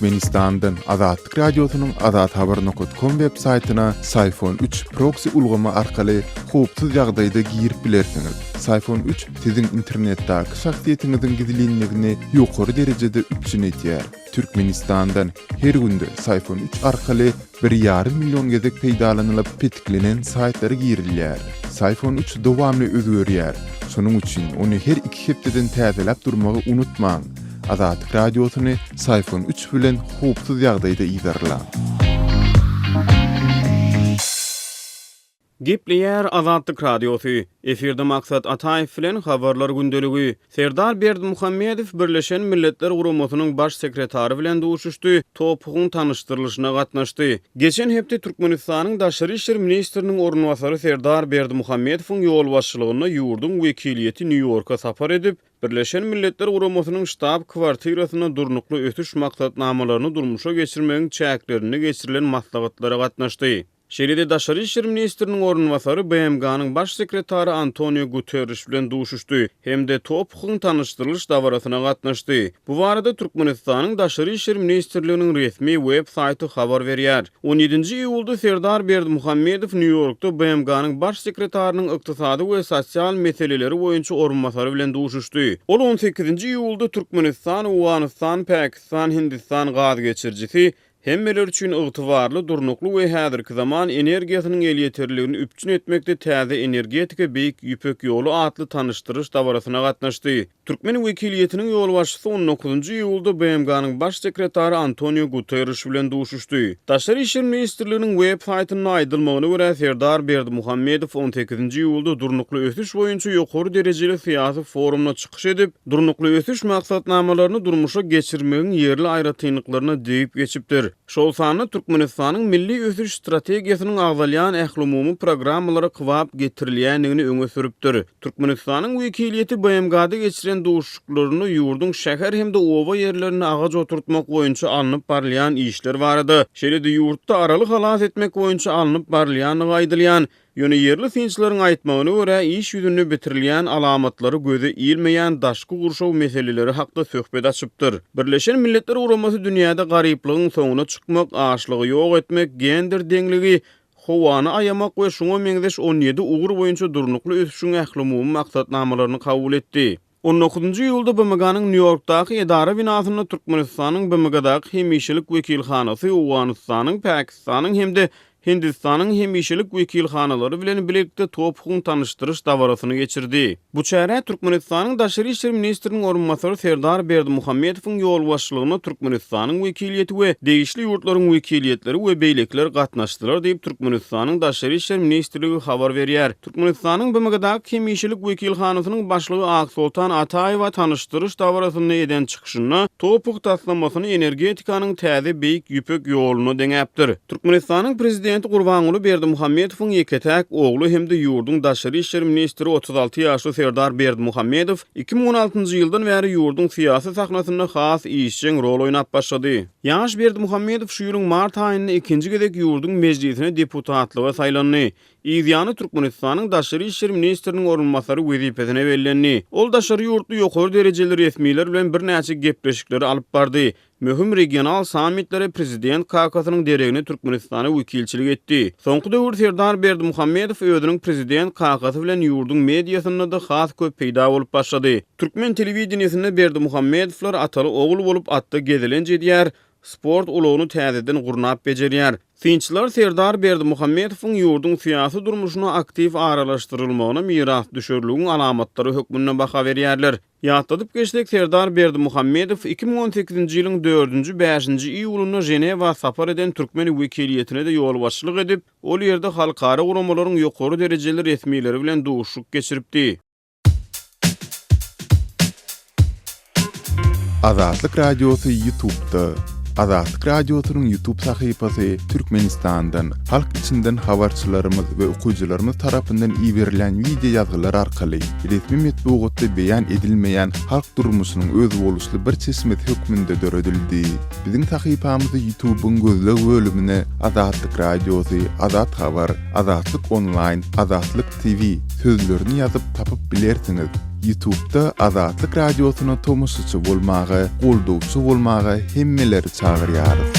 Türkmenistandan Azatlyk Radiosynyň Azat Haber Nokot Kom web saytyna Sayfon 3 proksi ulgamy arkaly howpsuz ýagdaýda girip bilersiňiz. Sayfon 3 siziň internetdäki şahsyýetiňiziň gizlinligini ýokary derejede üpjün edýär. Türkmenistandan her günde Sayfon 3 arkaly Bir ýarym million gezek peýdalanylyp petiklenen saýtlara girilýär. Syfon üç dowamly özgerýär, şonuň üçin ony her iki hepdeden täzeläp durmagy unutmaň! Azatlyk Radiosyny Syfon üç bilen howpsuz ýagdaýda yzarlaň! Gepleýär Azatlyk Radiosy, efirde Maksat Ataýew bilen Habarlar gündeligi. Serdar Berdimuhamedow Birleşen Milletler Guramasynyň Baş sekretary bilen duşuşdy, topugyň tanyşdyrylyşyna gatnaşdy. Geçen hepde Türkmenistanyň Daşary işler ministriniň orunbasary Serdar Berdimuhamedowyň ýolbaşçylygynda ýurduň wekiliýeti Nýu-Ýorka sapar edip, Birleşen Milletler Guramasynyň ştab-kwartirasynda Durnukly ösüş maksatnamalaryny durmuşa geçirmegiň çäklerinde geçirilen maslahatlara gatnaşdy. Şeýle-de daşary işler ministriniň orunbasary BMG-niň Baş sekretary Antonio Guterriş bilen duşuşdy hem-de TOPH-yň tanyşdyrylyş dabarasyna gatnaşdy. Bu barada Türkmenistanyň Daşary işler ministrliginiň resmi web saýty habar berýär. On ýedinji iýulda Serdar Berdimuhamedow Nýu-Ýorkda BMG-niň Baş sekretarynyň ykdysady we sosial meseleleri boýunça orunbasary bilen duşuşdy. Ol on sekizinji iýulda Türkmenistan, Owganystan, Pakistan, Hindistan gaz geçirijisi Hemmeler üçin ygtybarly, durnukly we häzirki zaman energiýasynyň elýeterliligini üpjün etmekde täze energetika Beýik Ýüpek ýoly atly tanyşdyryş dabarasyna gatnaşdy. Türkmen wekiliýetiniň ýolbaşçysy on dokuzynjy iýulda BMG-niň Baş sekretary Antonio Guterriş bilen duşuşdy. Daşary işler ministrliginiň web saýtynda aýdylmagyna görä, Serdar Berdimuhamedow on sekizinji iýulda Durnukly ösüş boýunça ýokary derejeli syýasy forumda çykyş edip, Durnukly ösüş maksatnamalaryny durmuşa geçirmegiň ýerli aýratynlyklaryna degip geçipdir. Şol sanda Türkmenistanyň milli ösüş strategiýasynyň agzalýan ählumumy programmalara kybap getirilýändigini öňe sürüpdir. Türkmenistanyň wekiliýeti BMG-da geçiren duşuşyklarynda ýurduň şäher hem-de oba ýerlerinde agaç oturtmak boýunça alnyp barylýan işler barada, şeýle-de ýurtda Araly halas etmek boýunça alnyp barylýandygy aýdylýan Ýöne ýerli synçylaryň aýtmagyna görä, iş ýüzünde bitirilýän alamatlary göze ilmeýän daşky gurşaw meseleleri hakda söhbet açypdyr. Birleşen Milletler Guramasy dünýäde garyplygyň soňuna çykmak, açlygy ýok etmek, gender deňligi, howany aýamak we şuňa meňzeş on ýedi ugur boýunça durnukly ösüşiň ählumumy maksatnamalaryny kabul etdi. On dokuzynjy iýulda BMG-niň Nýu-Ýorkdaky edara binasynda Türkmenistanyň BMG-daky hemişelik wekilhanasy Owganystanyň, Pakistanyň hem-de Hindistanyň hemişelik wekilhanalary bilen bilelikde tophuň tanyşdyryş dabarasyny geçirdi. Bu çärä Türkmenistanyň Daşary işler ministriniň orunbasary Serdar Berdimuhamedowyň ýolbaşçylygynda Türkmenistanyň wekiliýeti we degişli ýurtlaryň wekiliýetleri we beýlekiler gatnaşdylar diýip, Türkmenistanyň Daşary işler ministrligi habar berýär. Türkmenistanyň BMG-daky hemişelik wekilhanasynyň başlygy Aksoltan Ataýewa tanyşdyryş dabarasynda eden çykyşynda TOPH taslamasyny energetikanyň täze Beýik Ýüpek ýoluna deňäpdir. Türkmenistanyň Prezidenti Gurbanguly Berdimuhamedowyň ýeke-täk ogly hem-de ýurduň daşary işler ministri otuz alty ýaşly Serdar Berdimuhamedow iki müň on altynjy ýyldan bäri ýurduň syýasy sahnasynda has işjeň rol oýnap başlady. Ýaş Berdimuhamedow şu ýylyň mart aýynda ikinji gezek ýurduň Mejlisine deputatlyga saýlandy. Yz ýany Türkmenistanyň daşary işler ministriniň orunbasary wezipesine bellendi. Ol daşary ýurtly ýokary derejeli resmiler bilen birnäçe gepleşikleri alyp bardy. Möhüm regional sammitlere prezident kakasynyň deregine Türkmenistana wekilçilik etdi. Soňky döwür Serdar Berdimuhamedow özüniň prezident kakasy bilen ýurduň mediasynda-da has köp peýda bolup başlady. Türkmen telewideniýesinde Berdimuhamedowlar ataly-ogul bolup atda gezelenç edýär, sport ulagyny täzeden gurnap bejerýär. Synçylar Serdar Berdimuhamedowyň ýurduň syýasy durmuşyna aktiw aralaşdyrylmagyna mirasdüşerligiň alamatlary hökmünde baha berýärler. Ýatladyp geçsek, Serdar Berdimuhamedow iki müň on sekizinji ýylyň dördünji, bäşinji iýulynda Ženewa sapar eden türkmen wekiliýetine-de ýolbaşçylyk edip, ol ýerde halkara guramalaryň ýokary derejeli resmileri bilen duşuşyk geçiripdi. Azatlyk Radiosy Ýutubda. Azatlyk Radiosynyň Ýutub sahypasy Türkmenistandan, halk içinden habarçylarymyz we okyjylarymyz tarapyndan iberilen wideo ýazgylar arkaly resmi metbugatda beýan edilmeýän halk durmuşynyň özboluşly bir çeşmesi hökmünde döredildi. Biziň sahypamyzy Ýutubyň gözleg bölümine Azatlyk Radiosy, Azat Habar, Azatlyk Onlaýn, Azatlyk TV sözlerini ýazyp tapyp bilersiňiz. Ýutubda Azatlyk Radiosyna tomaşaçy bolmaga, goldawçy bolmaga hemmeleri çagyrýarys.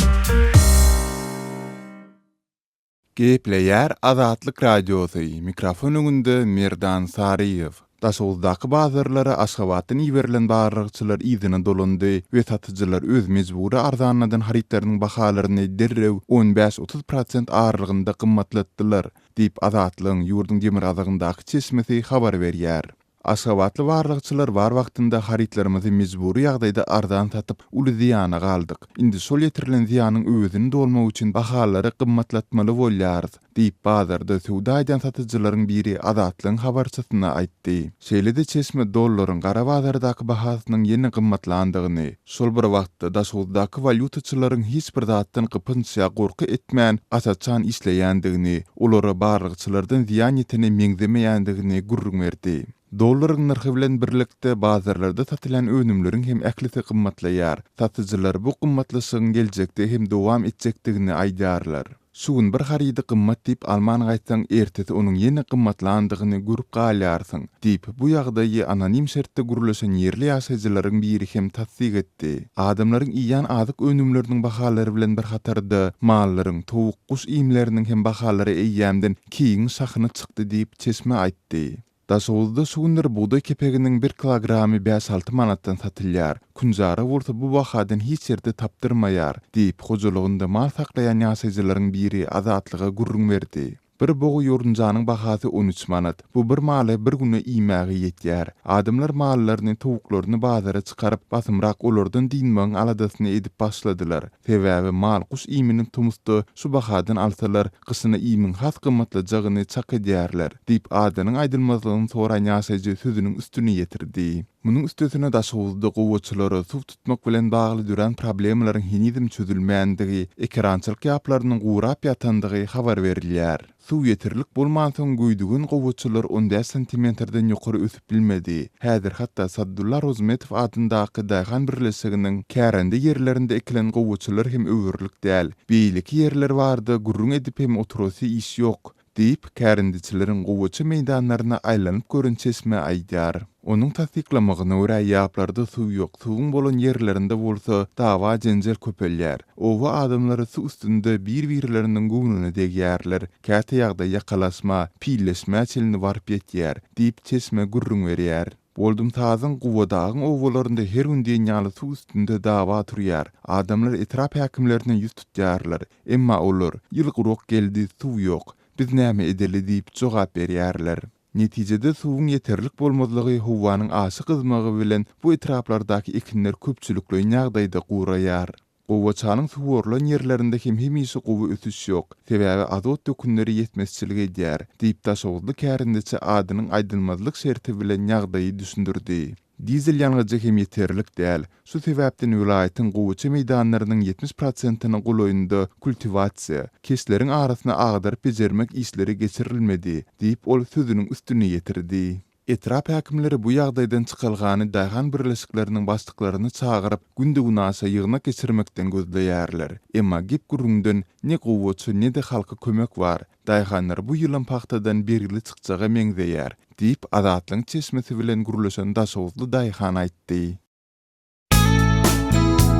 Gepleýär Azatlyk Radiosy, mikrofon öňünde Merdan Saryýew. Daşoguzdaky bazarlara Aşgabatdan iberilen barlagçylar yzyna dolandy we satyjylar öz mejbury arzanladan harytlarynyň bahalaryny derrew on bäş-otuz prosent aralygynda gymmatlatdylar. diýip, Azatlygyň ýurduň demirgazygyndaky çeşmesi habar berýär. Aşgabatly barlagçylar bar wagtynda harytlarymyzy mejbury ýagdaýda arzan satyp, uly zyýana galdyk. Indi şol ýetirilen zyýanyň öwezini dolmak üçin bahalary gymmatlatmaly bolýarys, diýip, bazarda söwda edýän satyjylaryň biri Azatlygyň habarçysyna aýtdy. Şeýle-de çeşme dollaryň gara bazardaky bahasynyň ýene gymmatlandygyny, Şol bir wagtda, Daşoguzdaky walýutaçylaryň hiç bir zatdan gypynç ýa gorky etmän, gaçaçan işleýändigini, olara barlagçylardan zyýan ýetene meňzemeýändigini gürrüň berdi. Dollaryň nyrhy bilen birlikde, bazarlarda satylýan önümleriň hem ählisi gymmatlaýar. Satyjylar bu gymmatlaşygyň geljekde hem dowam etjekdigini aýdýarlar. Şu gün bir harydy gymmat diýip alman gaýtsaň, ertesi onuň ýene gymmatlandygyny görüp galýarsyň, diýip, bu ýagdaýy anonim şertde gürleşen ýerli ýaşaýjylaryň biri hem tassyk etdi. Adamlaryň iýýän azyk önümleriniň bahalary bilen bir hatarda, mallaryň, towuk, guş iýmleriniň hem bahalary eýýämden keýigiň şahyna çykdy diýip, çeşme aýtdy. Daşoguzda şu günler bugdaý kepeginiň bir kilogramy bäş-alty manatdan satylýar. Künjara bolsa bu bahadan hiç ýerde tapdyrmaýar, diýip, hojalygynda mal saklaýan ýaşaýjylaryň biri Azatlyga gürrüň berdi. Bir bogy ýorunjanyň bahasy on üç manat. Bu bir maly bir güne iýmäge ýetýär. Adamlar mallaryny, towuklaryny bazara çykaryp, basymrak olardan dynmagyň aladasyny edip başladylar. Sebäbi mal-guş iýmini tomusda şu bahadan alsalar, gyşyna iýmiň has gymmatlajagyny çak edýärler, diýip, adynyň aýdylmazlygyny soran ýaşaýjy sözüniň üstüni ýetirdi. Munuň üstesine Daşoguzda gowaçalara suw tutmak bilen bagly dörän problemalaryň henizem çözülmändigi, ekerançylyk ýaplarynyň gurap ýatandygy habar berilýär. Suw ýeterlik bolmansoň göýdügen gowaçalar on bäş santimetrden ýokary ösüp bilmedi. Häzir hatda Saddulla Rozmetow adyndaky daýhan birleşiginiň kärende ýerlerinde ekilen gowaçalar hem öwerlik däl. Beýleki ýerler barda gürrüň edip hem oturasy iş ýok, diýip, kärendeçileriň gowaça meýdanlaryna aýlanyp gören çeşme aýdýar. Onuň tassyklamagyna görä, ýaplarda suw ýok, suwuň bolan ýerlerinde bolsa dawa-jenjel köpelýär. Oba adamlary suw üstünde bir-birleriniň göwnüne degýärler, käte ýagdaý ýakalaşma, pilleşmä çenli baryp ýetýär, diýip, çeşme gürrüň berýär. Boldumsazyň, Gubadagyň obalarynda her gün diýen ýaly suw üstünde dawa turýar. Adamlar etrap häkimlerine ýüz tutýarlar. Emma olar, Ýyl gurak geldi, suw ýok. Biz näme edeli? diýip, jogap berýärler. Netijede suwuň ýeterlik bolmazlygy, howanyň aşa gyzmagy bilen bu etraplardaky ekinler köpçülikleýin ýagdaýda guraýar. Gowaçanyň suwarylan ýerlerinde hem hemişe gowy ösüş ýok, sebäbi azot dökünleri ýetmezçilik edýär, diýip, daşoguzly kärendeçi adynyň aýdylmazlyk şerti bilen ýagdaýy düşündirdi. Dizel ýangyjy hem ýeterlik däl. Şu sebäpden welaýatyň gowaça meýdanlarynyň ýetmiş prosentiniň golaýynda kultiwasiýa, keşleriň arasyny agdaryp-bejermek işleri geçirilmedi, diýip, ol sözüniň üstüni ýetirdi. Etrap häkimleri bu ýagdaýdan çykalgany daýhan birleşikleriniň başlyklaryny çagyryp, günde-günaşa ýygnak geçirmekden gözleýärler. Emma gep-gürrüňden ne gowaça, ne-de halka kömek bar. Daýhanlar bu ýylam pagtadan bergili çykjaga meňzeýär, diýip, Azatlygyň çeşmesi bilen gürleşen daşoguzly daýhan aýtdy.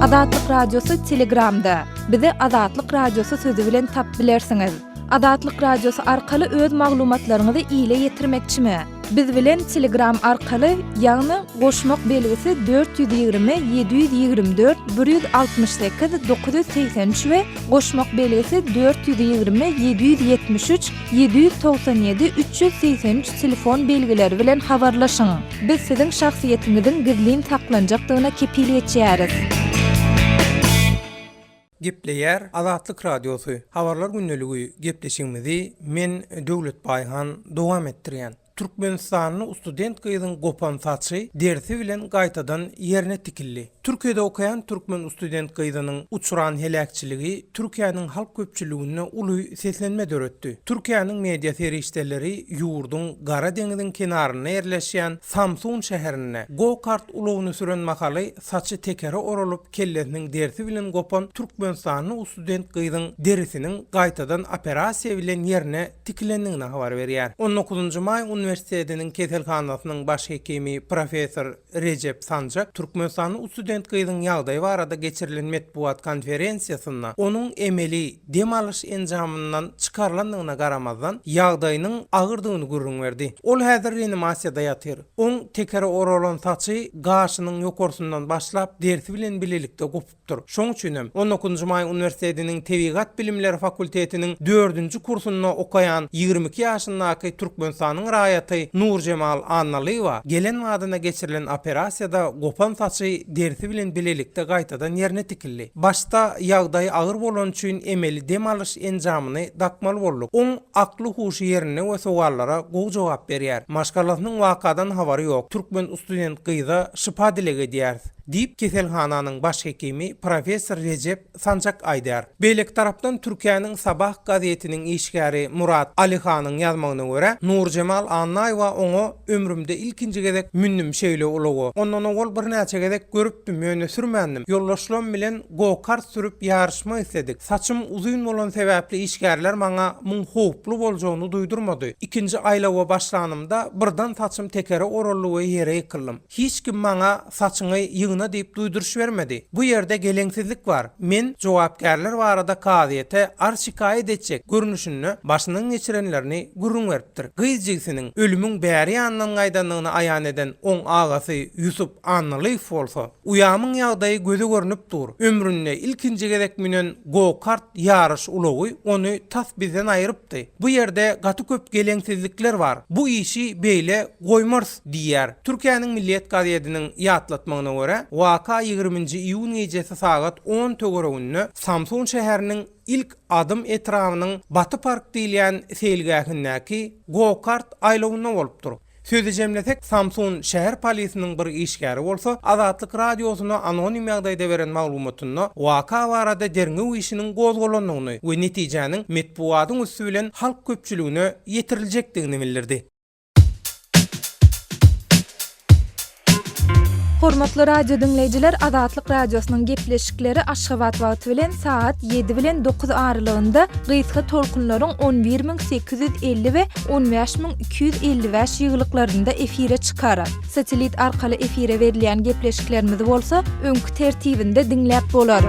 Azatlyk Radiosy Telegramda, Bizi Azatlyk Radiosy sözi bilen tap bilersiňiz. Azatlyk Radiosy arkaly öz maglumatlaryňyzy ile ýetirmekçimi? Biz bilen Telegram arkaly, ýagny goşmak belgisi dört ýüz ýigrimi, ýedi ýüz ýigrimi dört, bir ýüz altmyş sekiz, dokuz ýüz segsen üç we goşmak belgisi dört ýüz ýigrimi, ýedi ýüz ýetmiş üç, ýedi ýüz togsan ýedi, üç ýüz segsen üç telefon belgileri bilen habarlaşyň. Biz siziň şahsyýetiňiziň gizlin saklanjakdygyna kepil geçýäris. Gepleýär Azatlyk Radiosy, Habarlar gündeligiý gepleşigimizi men Döwletbaýhan dowam etdirýän. Türkmenistanly ustudent gyzyň gopan saçy derisi bilen gaýtadan ýerine tikildi. Türkiýede okaýan türkmen ustudent gyzynyň uçran heläkçiligi Türkiýäniň halk köpçüliginde uly seslenme döretdi. Türkiýäniň media serişdeleri ýurduň Gara deňiziň kenarynda ýerleşýän Samsun şäherinde go-kart ulagyny süren mahaly Saçy tekere oralyp, kellesiniň derisi bilen gopan türkmenistanly usudent gyzyň derisiniň gaýtadan operasiýa bilen ýerine tikilendigini habar berýär. On dokuzynjy maý uniwersitetiniň keselhanasynyň baş hekimi, professor Rejep Sanjak türkmenistanly usudent gyzyň ýagdaýy barada geçirilen metbugat konferensiýasynda onuň emeli dem alyş enjamyndan çykarylandygyna garamazdan, ýagdaýynyň agyrdygyny gürrüň berdi. Ol häzir reanimasiýada ýatyr. Oň tekere oralan saçy gaşynyň ýokarsyndan başlap, dersi bilen bilelikde gopupdyr. Şoň üçin hem, on nkinji maý uniwersitetiniň tebigat bilimleri fakultetiniň dördünji kursunda okaýan ýigrimi iki ýaşyndaky Türkmenistanyň raýaty Nurjemal Annalyýewa gelen badyna geçirilen operasiýada gopan saçy dersi bilen bilelikde gaýtadan ýerine tikildi. Başda ýagdaýy agyr bolany üçin emeli dem alyş enjamyny dakmaly bolduk. Oň. Akly-huşy ýerinde we sowallara gowy jogap berýär. Maşgalasynyň wakadan habary ýok. Türkmen ustudent gyza şypa dileg edýäris, diýip, keselhananyň baş hekimi, professor Rejep Sanjak aýdýar. Beýleki tarapdan Türkiýäniň Sabah gazetiniň işgäri Murat Alihanyň ýazmagyna görä, Nurjemal Annaýewa oňa Ömrümde ilkinji gezek mündüm şeýle ulaga. Ondan owal birnäçe gezek görüpdim, ýöne sürmändim. Ýoldaşlarym bilen Go-kart sürüp ýaryşmak isledik. Saçym uzyn bolan sebäpli işgärler maňa muň howply boljagyny duýdurmady. Ikinji aýlawa başlanymda birden saçym tekere oraldy we ýere ýykyldym. Hiç kim maňa saçyňy ýygna diýip duýduryş bermedi. Bu ýerde geleňsizlik bar. Men jogapkärler barada kazyýete arz şikaýat etjek görnüşinde başyndan geçirenlerini gürrüň beripdir. Gyz jigisiniň ölümiň bäri ýanyndan gaýdandygyny aýan eden oň agasy Ýusup. Annalyf bolsa, Uýamyň ýagdaýy göze görnüp dur, ömründe ilkinji gezek münen go-kart ýaryş ulagy ony tas bizden aýyrypdy. Bu ýerde gaty köp geleňsizlikler bar. Bu işi beýle goýmarys diýýär. Türkiýäniň Milliyet gazediniň ýatlatmagyna görä, waka ýigriminji iýun gijesi sagat on töwereginde Samsun şäheriniň Ilk adym etrabynyň Baty park diýilýän seýilgähindäki go-kart aýlawynda bolupdyr. Sözi jemlesek, Samsun şäher polisiniň bir işgäri bolsa, Azatlyk Radiosyna anonim ýagdaýda beren maglumatynda waka barada derňew işiniň gozgalandygyny we netijäniň metbugatyň üsti bilen halk köpçüligine ýetiriljekdigini bildirdi. Hormatly radio diňleýjiler, Azatlyk Radiosynyň gepleşikleri Aşgabat wagty bilen sagat ýedi bilen dokuz aralygynda gysga tolkunlaryň on bir müň sekiz ýüz elli we on bäş müň iki ýüz elli bäş ýyglyklarynda efire çykar. Satelit arkaly efire berilýän gepleşiklerimizi bolsa öňki tertibinde diňläp bolar.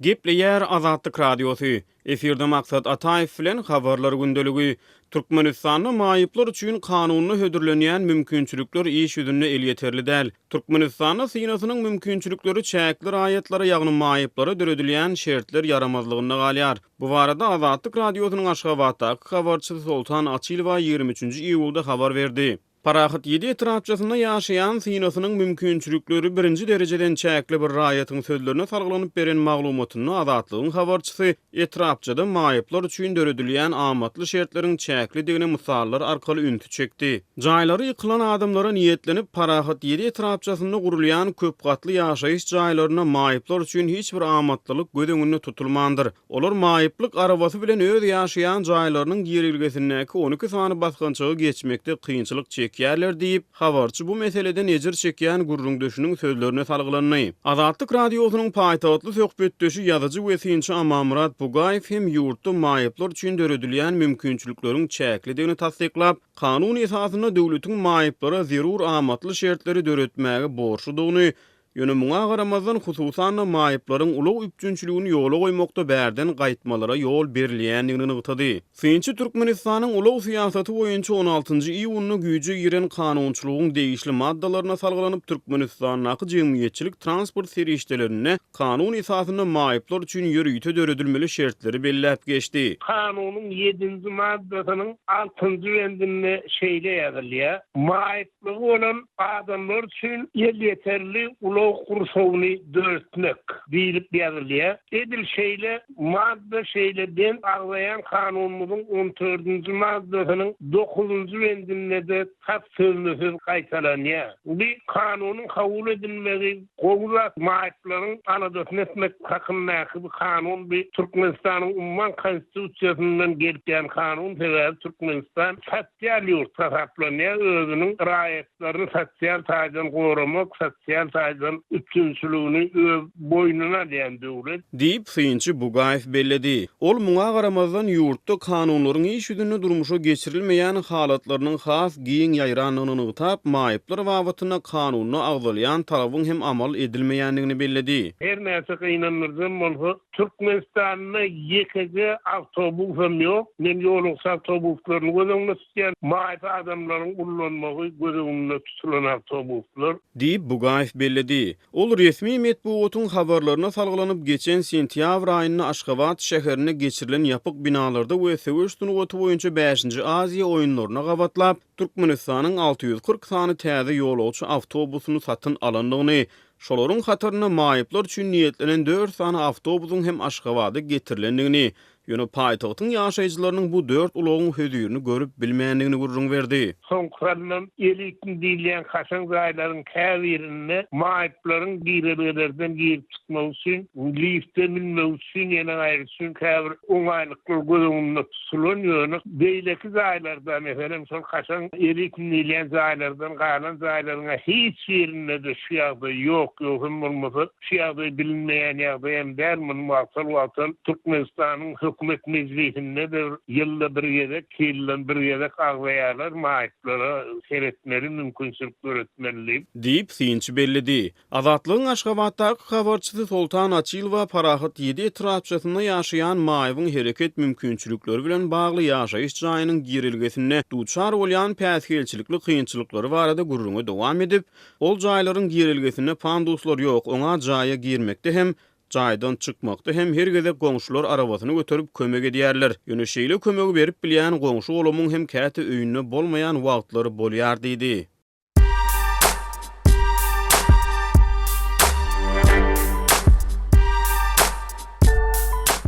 Gepleýär Azatlyk Radiosy, efirde Maksat Ataýew bilen Habarlar gündeligi, Türkmenistanda maýyplar üçin kanunda hödürlenýän mümkinçilikler iş ýüzünde elýeterli däl. Türkmenistanda synasynyň mümkinçilikleri çäkli raýatlara, ýagny maýyplara döredilýän şertler ýaramazlygynda galýar. Bu barada Azatlyk Radiosynyň Aşgabatdaky habarçysy Soltan Açylowa ýigrimi üçünji iýulda habar berdi. Parahat ýedi etrapçasynda ýaşaýan synasynyň mümkinçilikleri birinji derejeden çäkli bir raýatyň sözlerine salgylanyp beren maglumatynda Azatlygyň habarçysy etrapçada maýyplar üçin döredilýän amatly şertleriň çäklidigine mysallar arkaly ünsi çekdi. Jaýlary ýykylan adamlara niýetlenip, Parahat ýedi etrapçasynda gurulýan köp gatly ýaşaýyş jaýlarynda maýyplar üçin hiç bir amatlylyk göz öňünde tutulmandyr. Olar maýyplyk arabasy bilen öz ýaşaýan jaýlarynyň girlgesindäki on iki sany basgançagy geçmekde kynçylyk çekýärler diýip, habarçy bu meseleden ejir çekýän gürrüňdeşiniň sözlerine salgylandy. Azatlyk Radiosynyň paýtagtly söhbetdeşi, ýazyjy we synçy Amanmyrat Bugaýew hem ýurtda maýyplar üçin döredilýän mümkinçilikleriň çäklidigini tassyklap, kanun esasynda döwletiň maýyplara zerur amatly şertleri döretmäge borçludygyny Ýöne muňa garamazdan, hususan-da, maýyplaryň ulag üpjünçiligini ýola goýmakda bärden gaýtmalara ýol berilýändigini nygtady. Synçy Türkmenistanyň ulag syýasaty boýunça on altynjy iýunda güýje giren kanunçylygyň degişli maddalaryna salgylanyp, Türkmenistandaky jemgyýetçilik transport serişdelerinde kanun esasynda maýyplar üçin ýörite döredilmeli şertleri belläp geçdi. Kanunyň ýedinji maddasynyň altynjy bendinde şeýle ýazylýar, Maýyp Ýoklugy bolan adamlar üçin elýeterli ulag gurşawyny döretmek diýlip ýazylýar. Edil şeýle madda şeýle bent agzaýan Kanunymyzyň on dördünji maddasynyň dokuzynjy bendinde-de tas sözme-söz gaýtalanýar. Bu Kanunyň kabul edilmegi gowy zat, maýyplaryň aladasyny etmek hakyndaky bu Kanun bu Türkmenistanyň umman Konstitusiýasyndan gelip ýan Kanun sebäbi Türkmenistan tas Sosial ýurt hasaplanýar, özüniň raýatlaryny sosial taýdan goramak, sosial taýdan üpjünçiligini öz boýnuna alýan döwlet. Diýip, synçy Bugaýew belledi. Ol muňa garamazdan, ýurtda kanunlaryň iş ýüzünde durmuşa geçirilmeýän halatlarynyň has giň ýaýrandygyny nygtap, maýyplar babatynda kanunda agzalýan talabyň hem amal edilmeýändigini belledi. Her näçe gynandyryjam bolsa, Türkmenistanda ýekeje awtobusam ýok. Men ýolagçy awtobuslaryny göz öňünde tutýan. Maýyp adamlaryň ullanmagy göz öňünde tutulan awtobuslar. Diýip, Bugaýew belledi. Ol resmi metbugatyň habarlaryna salgylanyp, geçen sentýabr aýynda Aşgabat şäherinde geçirilen ýapyk binalarda we söweş sungaty boýunça bäşinji Aziýa oýunlaryna gabatlap, Türkmenistanyň alty ýüz kyrk sany täze ýolagçy awtobusyny satyn alandygyny Şolaryň hatarynda maýyplar üçin niýetlenen dört sany awtobusyň hem Aşgabada getirilendigini, ýöne paýtagtyň ýaşaýjylarynyň bu dört ulagyň hözirini görüp bilmändigini gürrüň berdi. Soňkusyna elitni diýilýän kaşaň jaýlaryň käbirinde maýyplaryň girelgelerden girip-çykmagy üçin lifte münmegi Çyn ýene gaýry çyn käbir oňaýlyklar göz öňünde tutulan, ýöne beýleki jaýlarda, meselem, şol kaşaň elitin diýilýän jaýlardan galan jaýlaryň-a hiç birinde-de şu ýagdaý ýok, ýok hem bolmasa şu ýagdaý bilinmeýän ýagdaý hem däl, muny wagtal-wagtal Türkmenistanyň Hökümet mejlisinde de bir ýylda bir gezek, iki ýyldan bir gezek agzaýarlar, maýyplara seretmeli, mümkinçilik döretmeli diýip. Diýip, synçy belledi. Azatlygyň Aşgabatdaky habarçysy Soltan Açylowa Parahat ýedi etrapçasynda ýaşaýan maýybyň hereket mümkinçilikleri bilen bagly ýaşaýyş jaýynyň girelgesinde duçar bolýan päsgelçilikli kynçylyklary barada gürrüňi dowam edip, Ol jaýlaryň girelgesinde panduslar ýok, oňa jaýa girmekde hem, jaýdan çykmakda hem her gezek goňşular arabasyny göterip kömek edýärler. Ýöne şeýle kömegi berip bilýän goňşy-golamyň hem käte öýünde bolmaýan wagtlary bolýar diýdi.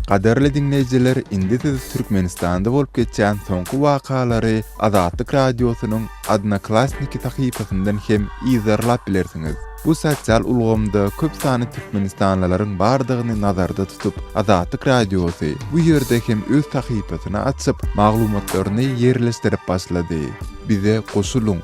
Gadyrly diňleýjiler indi siz Türkmenistanda bolup geçýän soňky wakalary Azatlyk Radiosynyň Odnoklassniki sahypasyndan hem yzarlap bilersiňiz. Bu sosial ulgamda köp sanly türkmenistanlylaryň bardygyny nazarda tutup, Azatlyk Radiosy bu ýerde hem öz sahypasyny açyp, maglumatlaryny ýerleşdirip başlady. Bize goşulyň!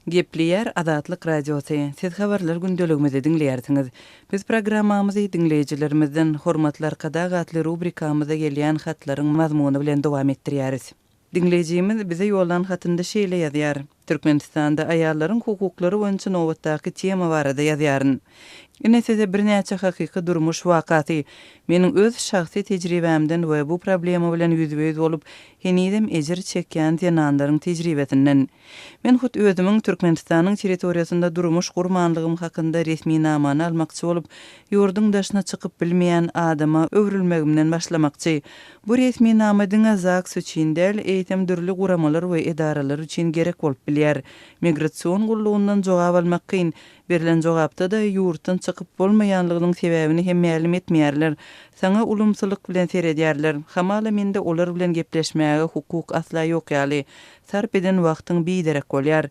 Gepleýär Azatlyk Radiosy, siz habarlar gündeligimizi diňleýärsiňiz. Biz programmamyzy Diňleýjilerimizden Hormatly Arkadag atly rubrikamyzda gelýän hatlaryň mazmuny bilen dowam etdirýäris. Diňleýjimiz bize ýollan hatynda şeýle ýazýar, Türkmenistanda aýallaryň hukuklary boýunça nobatdaky tema barada ýazýaryn. Ine size birnäçe hakyky durmuş wakasy. Meniň öz şahsy tejribämden we bu problema bilen ýüzbe-ýüz bolup, henizem ejir çekýän zenanlaryň tejribesinden. Men hut özümiň Türkmenistanyň territoriýasynda durmuş gurmanlygym hakynda resminamany almakçy bolup, ýurduň daşyna çykyp bilmeýän adama öwrülmegimden başlamakçy. Bu resminama diňe ZAGS üçin däl, eýsem dürli guramalar we edaralar üçin gerek bolup bilýär. Migrasion gullugyndan jogap almak kyn. Berlen jogapda-da ýurtdan çykyp bolmaýanlygynyň sebäbini hem mälim etmeýärler. Saňa ulumsylyk bilen seredýärler. Hamala mende olar bilen gepleşmäge hukuk asla ýok ýaly. Sarp eden wagtyň biderek bolýar.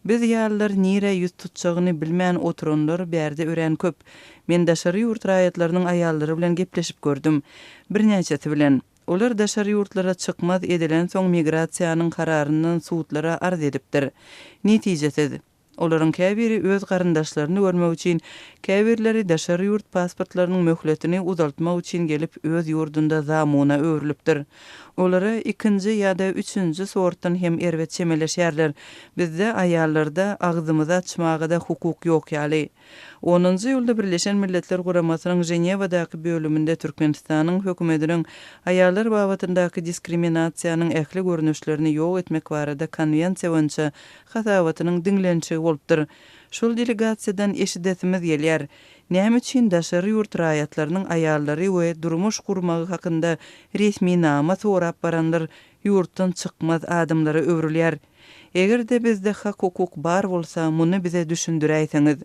Biz ýalylar nirä ýüz tutjagyny bilmän oturanlar bärde örän köp. Men daşary ýurt raýatlarynyň aýallary bilen gepleşip gördüm. Birnäçesi bilen. Olar daşary ýurtlara çykmaz edilensoň migrasiýanyň kararyndan sudlara arz edipdir. Netijesiz. Olaryň käbiri öz garyndaşlaryny görmek üçin, käbirleri daşary ýurt pasportlarynyň möhletini uzaltmak üçin gelip öz ýurdunda zamuna öwrülipdir. Olara ikinji ýa-da üçünji sortdan hem erbet çemeleşýärler. Bizde aýallarda agzymyzy açmaga-da hukuk ýok ýaly. Onunjy iýulda Birleşen Milletler Guramasynyň Ženewadaky bölüminde Türkmenistanyň hökümediniň Aýallar babatyndaky diskriminasiýanyň ähli görnüşlerini ýok etmek barada konwensiýa boýunça hasabatynyň diňlenişigi bolupdyr. Şol delegasiýadan eşidesimiz gelýär, Näme üçin daşary ýurt raýatlarynyň aýallary we durmuş gurmagy hakynda resminama sorap baranlar ýurtdan çykmaz adamlara öwrülýär? Eger-de bizde hak-hukuk bar bolsa, muny bize düşündiräýseňiz.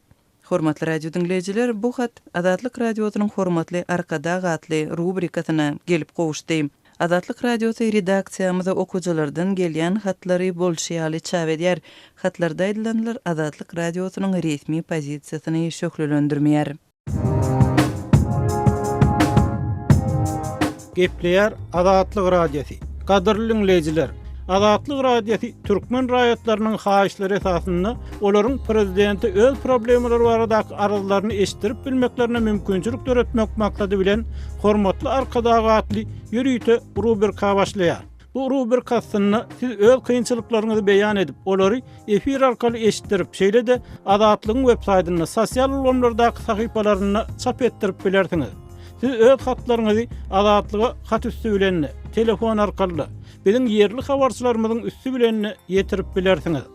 Hormatly radio diňleýjiler, bu hat Azatlyk Radiosynyň Hormatly Arkadag atly rubrikasyna gelip gowuşdy. Azatlyk Radiosy redaksiýamyza okyjylardan gelýän hatlary bolşy ýaly çap edýär. Hatlarda aýdylanlar Azatlyk Radiosynyň resmi pozisiýasyny şöhlelendirmeýär. Gepleýär Azatlyk Radiosy. Gadyrly diňleýjiler, Azatlyk Radiosy türkmen raýatlarynyň haýyşlary esasynda olaryň prezidente öz problemalary baradaky arzlaryny eşitdirip bilmeklerine mümkinçilik döretmek maksady bilen Hormatly Arkadag atly ýörite rubrika başlaýar. Bu rubrik aslynda siz öz kynçylyklaryňyzy beýan edip, olary efir arkaly eşitdirip, şeýle-de Azatlygyň web saýtynda, sosial ulgamlardaky sahypalarynda çap etdirip bilersiňiz. Siz öz hatlaryňyzy Azatlyga hat üsti bilen-de, telefon arkaly-da, biziň ýerli habarçylarymyzyň üsti bilen-de ýetirip bilersiňiz.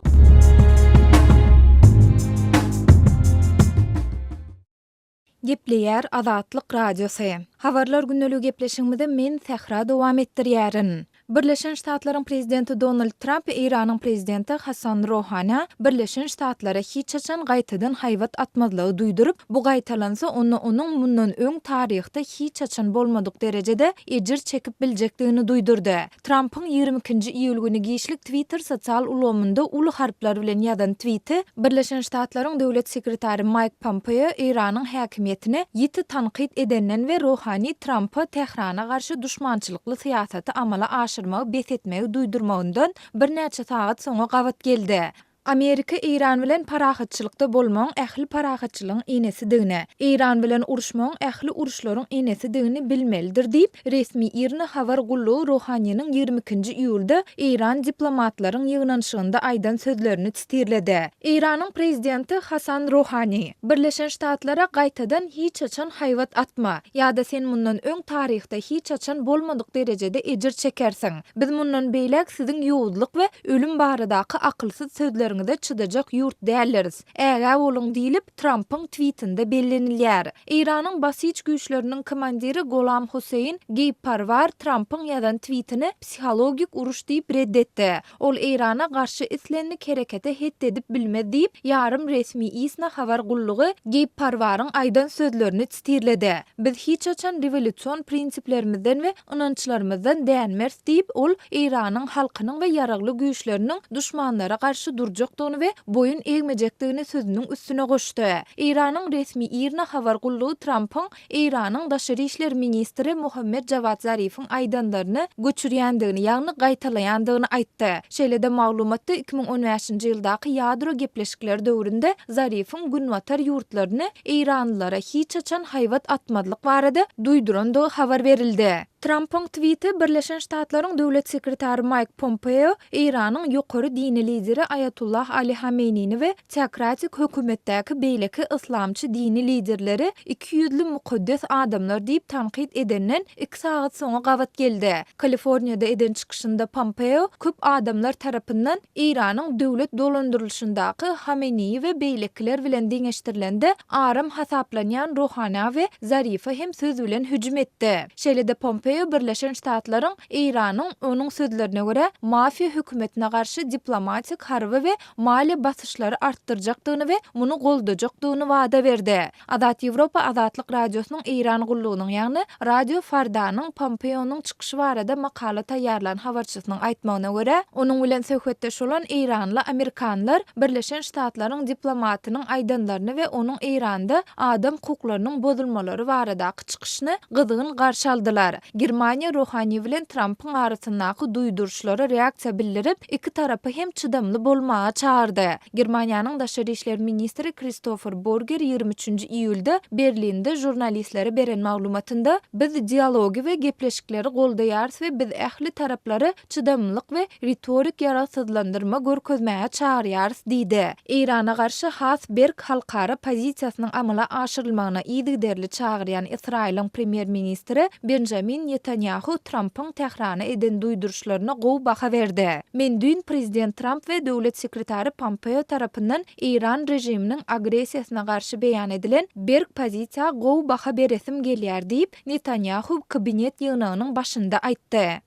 Gepleýär Azatlyk Radiosy. Habarlar gündeliği gepleşigimizi men Sähra dowam etdirýärin. Birleşen Ştatlaryň Prezidenti Donald Tramp Eýranyň Prezidenti Hassan Rohanä Birleşen Ştatlara hiç haçan gaýtadan haýbat atmazlygy duýduryp, bu gaýtalansa onda onuň mundan öň taryhda hiç haçan bolmadyk derejede ejir çekip biljekdigini duýdurdy. Trampyň ýigrimi ikinji iýul güni giçlik Twitter sosial ulgamynda uly harplar bilen ýazan twiti Birleşen Ştatlaryň döwlet sekretary Maýk Pompeo Eýranyň häkimiýetini ýiti tankyt edenden we Rohani Trampa Tährana garşy duşmançylykly syýasaty amala aşyrmagy bes etmegi duýdurmagyndan birnäçe sagat soňa gabat geldi. Amerika Eýran bilen parahatçylykda bolmagyň ähli parahatçylygyň enesidigini, Eýran bilen uruşmagyň ähli uruşlaryň enesidigini bilmelidir diýip, resmi IRNA habar gullugy Rohaniniň ýigrimi ikinji iýulda Eýran diplomatlaryň ýygnanyşygynda aýdan sözlerini titirledi. Eýranyň prezidenti Hasan Rohani, Birleşen Ştatlara gaýtadan hiç haçan haýbat atma, ýa-da sen mundan öň taryhda hiç haçan bolmadyk derejede ejir çekersiň, Biz mundan beýläk siziň ýowuzlyk we ölüm baradaky akylsyz sözleriňize çydajak ýurt däldiris. Ägä boluň diýlip, Trampyň twitinde bellenilýär. Eýranyň Basij güýçleriniň komandiri Golam Husseýn Geýbparwar Trampyň ýazan twitini psihologik uruş diýip red etdi. Ol Eýrana garşy islendik herekete het edip bilmez diýip, ýarym resmi ISNA habar gullugy Geýbparwaryň aýdan sözlerini Stirlede, Biz hiç haçan rewolýusion prinsiplerimizden we ynançlarymyzdan dänmeris diýip, ol Eýranyň halkynyň we ýaragly güýçleriniň duşmanlara garşy durjakdygyny we boýun egmejekdigini sözüniň üstüne goşdy. Eýranyň resmi IRNA habar gullugy Trampyň Eýranyň daşary işler ministri Mohammad Jawad Zarifiň aýdanlaryny göçürýändigini, ýagny gaýtalaýandygyny aýtdy. Şeýle-de maglumatda iki müň on bäşinji ýyldaky ýadro gepleşikleri döwründe Zarifiň günbatar ýurtlaryny, eýranlylara hiç haçan haýbat atmazlyk barada duýdurandygy habar berildi. Trampyň twiti Birleşen Ştatlaryň Döwlet sekretary Maýk Pompeo Eýranyň ýokary dini lideri Aýatullah Ali Hameýnini we teokratik hökümetdäki beýleki yslamçy dini liderleri iki ýüzli mukaddes adamlar diýip tankyt edenden iki sagat soňa gabat geldi. Kaliforniýada eden çykyşynda Pompeo köp adamlar tarapyndan Eýranyň döwlet dolandyrylyşyndaky Hameneýi we beýlekiler bilen deňeşdirilende aram hasaplanýan Rohana we Zarifa hem söz bilen hüjüm etdi. Şeýle-de Pompeo Birleşen Ştatlaryň Eýranyň, onuň sözlerine görä, mafiýa hökümetine garşy diplomatik, harby we maliýe basyşlary artdyrjakdygyny we muny goldajakdygyny wada berdi. Azat Ýewropa Azatlyk Radiosynyň Eýran gullugynyň, ýagny Radio Fardanyň Pompeonyň çykyşy barada makala taýýarlan habarçysynyň aýtmagyna görä, onuň bilen söhbetdeş bolan eýranly amerikanlar Birleşen Ştatlaryň diplomatynyň aýdanlaryny we onuň Eýranda adam hukuklarynyň bozulmalary barada Mask çykyşyny gyzgyn garşy aldylar. Germaniýa Rohani bilen Trampyň arasyndaky duýduryşlara reaksiýa bildirip, iki tarapy hem çydamly bolmaga çagyrdy. Germaniýanyň daşary işler ministri Kristofer Burger ýigrimi üçünji iýulda Berlinde žurnalistlere beren maglumatynda, Biz dialogy we gepleşikleri goldaýarys we biz ähli taraplary çydamlylyk we ritorik ýaragsyzlandyrma görkezmäge çagyrýarys diýdi. Eýrana garşy has berk halkara pozisiýasynyň amala aşyrylmagyna yzygiderli çagyrýan Ysraýylyň premýer-ministri Benjamin Netanýahu Trampyň Tährana eden duýduryşlaryna gowy baha berdi, Men düýn prezident Tramp we döwlet sekretary Pompeo tarapyndan Eýran režiminiň agressiýasyna garşy beýan edilen berk pozisiýa gowy baha beresim gelýär diýip, Netanýahu kabinet ýygnagynyň başynda aýtdy.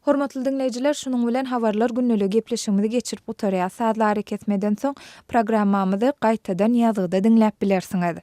Hormatly diňleýjiler, şunuň bilen Habarlar gündeligi gepleşigimizi geçirip gutarýas. Sazly arakesmeden soň, programmamyzy gaýtadan ýazgyda diňläp bilersiňiz.